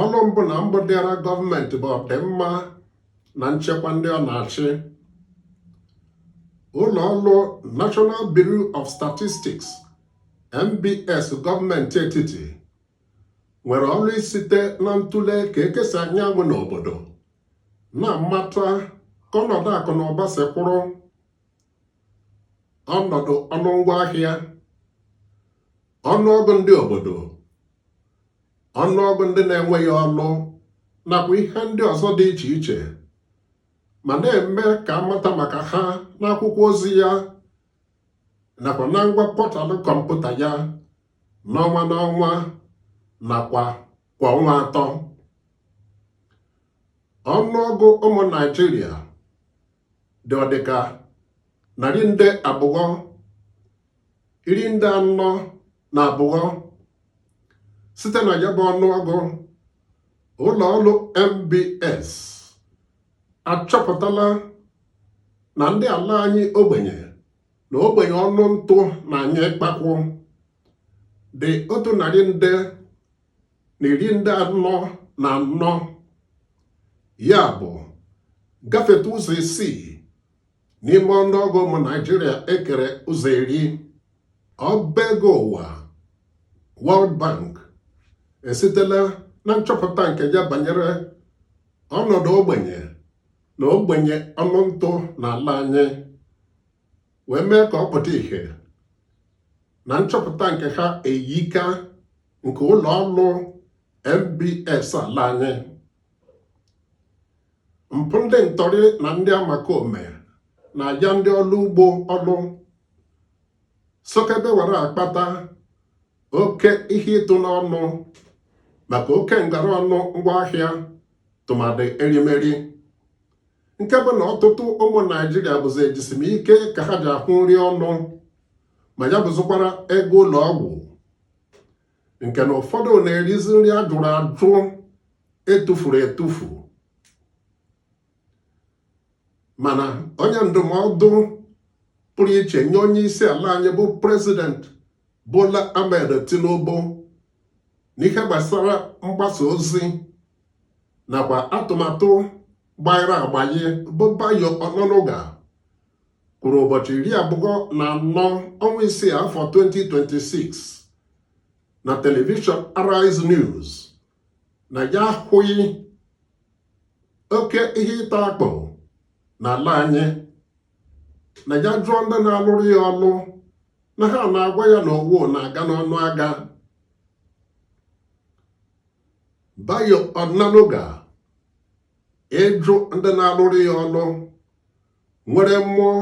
ọrụ mbụ na mbụ dịara gọọmenti bụ ọdịmma na nchekwa ndị ọ na-achị ụlọ ọrụ National Bureau of Statistics NBS gọọmenti etiti nwere ọrụ isite na ntụle ka eke si anya anwụ n'obodo na-amata ka ọnọdụ akụ na ụba si kwụrụ ọnọdụ ọnụ ngwa ahịa ọnụọgụ ndị obodo ọnụọgụ ndị na-enweghị ọlụ nakwa ihe ndị ọzọ dị iche iche ma na-eme ka a mata maka ha n'akwụkwọ ozi ya nakwa na ngwa pọtalụ kọmputa ya n'ọnwa n'ọnwa nakwa kwa ọnwa atọ ọnụọgụ ụmụ Naịjirịa dị ọdịka narị nde abụọ iri nde anọ na abụọ site na ya bụ ọnụọgụ ụlọ ọrụ NBS achọpụtala na ndị ala anyị ogbenye na ogbenye ọnụ ntụ na-anyụ ikpakwụ dị otu narị nde na iri nde anọ na anọ ya bụ gafeta ụzọ isii n'ime ọnụọgụ ụmụ Naịjirịa e kere ụzọ iri ọba ego ụwa World Bank esitela na nchọpụta nke ya banyere ọnọdụ ogbenye na ogbenye ọnụ ntụ n'ala anyị wee mee ka ọ pụta ìhè na nchọpụta nke ha eyika nke ụlọ ọrụ NBS ala anyị mpụ ndị ntọrị na ndị omekome na-aja ndị ọlụ ugbo ọlụ sokebe were akpata oke ihe ịtụ n'ọnụ maka oke ngara ọnụ ngwaahịa tụmadị erimeri nke bụ na ọtụtụ ụmụ Naịjirịa bụzi ejisi m ike ka ha ji ahụ nri ọnụ ma ya bụzụkwara ego ụlọ ọgwụ nke na ụfọdụ na-erizi nri a jụrụ ajụ e tufuru etufu mana onye ndụmọdụ pụrụ iche nye onye isi ala anyị bụ prezident Bola Ahmed Tinubu n'ihe gbasara mgbasa ozi nakwa atụmatụ gbanyere agbanye bụ Bayo Onanuga kwuru ụbọchị iri abụọ na anọ ọnwa isii afọ 2026 na telivishọn Arise News na ya ahụghị oke ihe ịta akpụ n'ala anyị na ya jụọ ndị na-alụrụ ya ọlụ na ha na-agwa ya na owu na-aga n'ọnụ aga Bayo Onanuga ịjụ ndị na-alụrụ ya ọlụ nwere mmụọ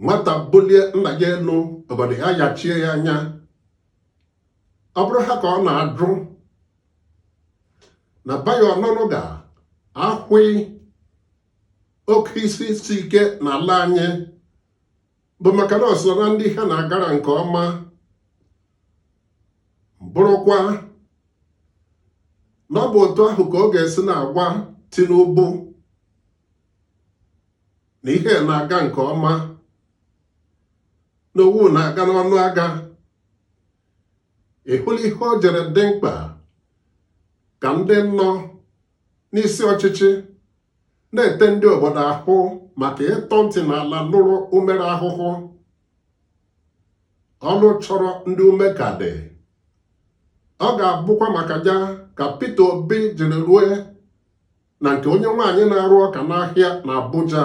nwata bulie nna ya elu ọgọdọ ayachie ya anya ọ bụrụ ha ka ọ na-ajụ na Bayo Onanuga ahụghị oke ihe isi ike n'ala anyị bụ maka na o so na ndị ihe na-agara nke ọma bụrụkwa na ọ bụ otu ahụ ka ọ ga-esi na-agwa Tinubu na ihe na-aga nke ọma na owu na-aga n'ọnụ aga ị hụla ihe o jiri dị mkpa ka ndị nọ n'isi ọchịchị na-ete ndị obodo ahụ maka ịtọ ntị n'ala nụrụ umere ahụhụ ọnụ chọrọ ndị ume ka dị ọ ga-abụkwa maka ya ka Peter Obi jiri rue na nke onye nwaanyị na-arụ ọka n'ahịa na Abuja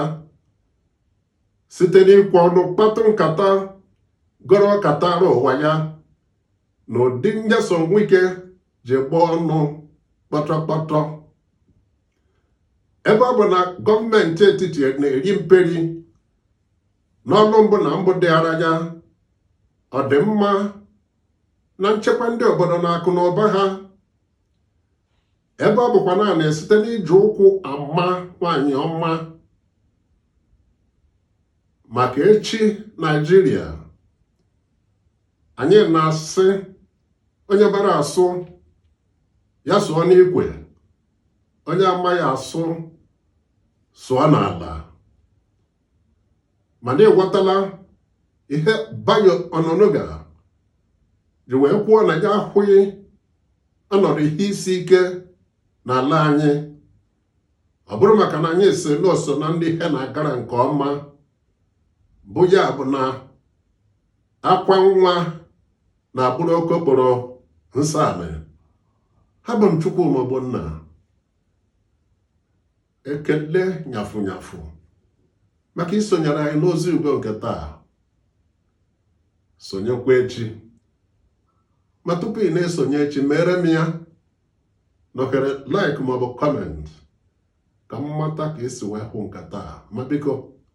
site n'ikwe ọnụ kpatụ nkata gọrọ ọka tara ụwa ya na ụdị Nyesom Wike ji gbaa ọnụ kpọtọkpọtọ ebe ọ bụ na gọọmenti etiti na-eri mperi n'ọlụ mbụ na mbụ dịara ya ọdịmma na nchekwa ndị obodo na akụ na ụba ha ebe ọ bụkwa naanị site n'iji ụkwụ ama nwanyị ọma maka echi Naịjirịa anyị na-asị onye mara asụ ya sụọ n'ikwe onye amaghị asụ sụọ n'ala mana ị ghọtala ihe Bayo Onanuga ji wee kwuo na ya ahụghị ọnọdụ ihe isi ike n'ala anyị ọ bụrụ maka na anyị sị na o so na ndị ihe na-agara nke ọma bụ ya bụ na akwa nwa na-abụrụ okokporo nsọ anị abụ m Chukwuma Ogbonna ekele nyafụ nyafụ maka isonyere anyị n'ozi ugo nke taa sonyekwa echi ma tupu ị na-esonye echi meere m ya nọkere like maọbụ kọment ka m mata ka i si wee hụ nke taa ma biko